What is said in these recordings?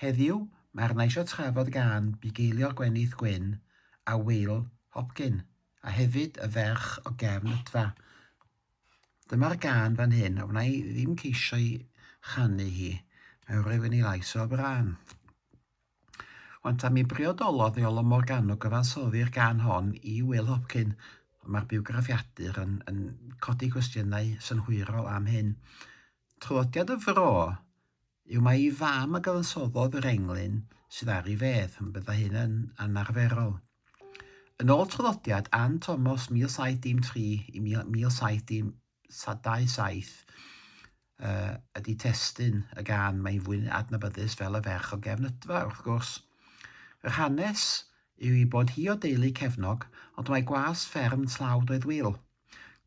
Heddiw, mae arna isio trafod gân bugeiliol Gwenith Gwyn a Wil Hopkin, a hefyd y ferch o gefn Ydfa. Dyma'r gân fan hyn, a wna i ddim ceisio i chanu hi, mae rhywun i lais o fran. Wan ta mi briodolodd Iolo Morgannwg gyfansoddi'r gân hon i Wil Hopkin, mae'r biwgraffiadur yn, yn codi cwestiynau synhwyrol am hyn. Traddodiad y fro yw mai ei fam a gyfansoddodd yr englyn sydd ar ei fedd, ond byddai hyn yn anarferol. Yn ôl traddodiad Ann Tomos 1713 i 1727, uh, ydy testun y gan mae'n fwy adnabyddus fel y ferch o gefn ydfa, wrth gwrs. Yr hanes yw i bod hi o deulu cefnog, ond mae gwas fferm tlawd oedd Wil.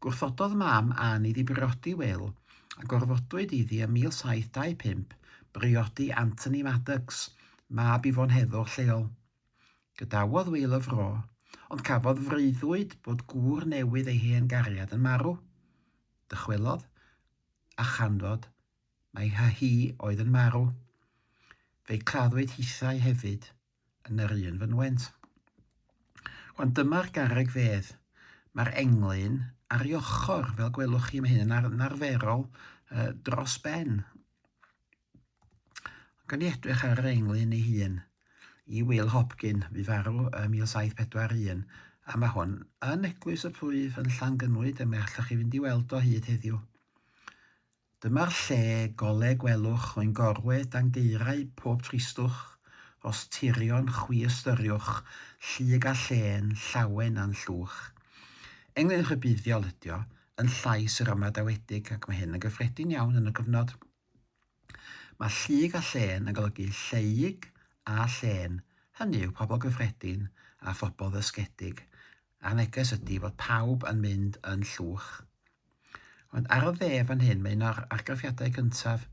Gwrthododd Mam Ann iddi briodi Wil, a gorfodwyd iddi ym 1725 briodi Anthony Maddox, mab Yvonne Heddwch lleol. Gadawodd Wil y fro, ond cafodd freuddwyd bod gŵr newydd ei hen gariad yn marw. Dychwelodd, a chanfod mai hi oedd yn marw. Fe'i claddwyd hithau hefyd. yn yr un fynwent. Wan dyma'r garreg fedd. Mae'r englyn ar ei ochr, fel gwelwch chi, mae hyn yn ar yn arferol uh, dros ben. Gan i edrych ar yr englyn ei hun i Will Hopkin, fu farw ym 1741, a mae hwn yn Eglwys y Plwyf yn Llangynwyd, a mae allwch chi fynd i weld o hyd heddiw. Dyma'r lle gole gwelwch oen gorwe dan gaerau pob tristwch, os tirion chwi ystyriwch llig a llên llawen a'n llwch. Englyn rhybuddiol ydi o, yn llais yr ymadawedig ac mae hyn yn gyffredin iawn yn y cyfnod. Mae llig a llên yn golygu lleyg a llên, hynny yw pobl gyffredin a phobl ddysgedig, a'r neges ydi fod pawb yn mynd yn llwch. Ond ar y dde fan hyn mae un o'r argraffiadau cyntaf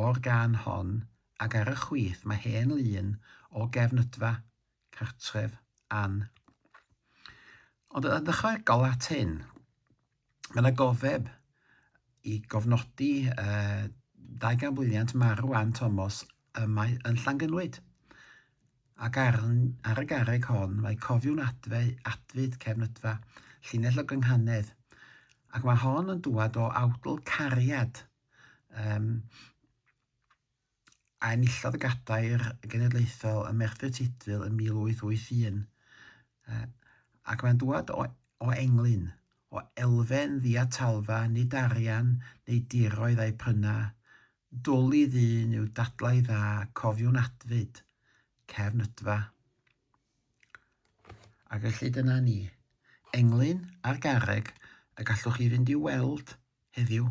o'r gân hon ac ar y chwith mae hen lun o gefn ydfa, cartref, Ann. Ond yn ychwanegol at hyn, mae yna gofeb i gofnodi uh, dau ganbwylliant marw Ann Thomas y mae yn Llangynwyd. Ac ar, ar y garreg hon mae cofiwn adfe, adfyd cefnydfa, llinell o gynghanedd. Ac mae hon yn dŵad o awdl cariad. Um, a enillodd y Gadair Genedlaethol ym Merthyr Tudful yn 1881, ac mae'n dŵad o o englyn, o elfen ddiatalfa, nid arian neu diroedd a'i pryna, dwl i ddyn yw dadlau dda, cofiwn adfyd, cefn ydfa. A felly dyna ni, englyn ar garreg y gallwch chi fynd i'w weld heddiw.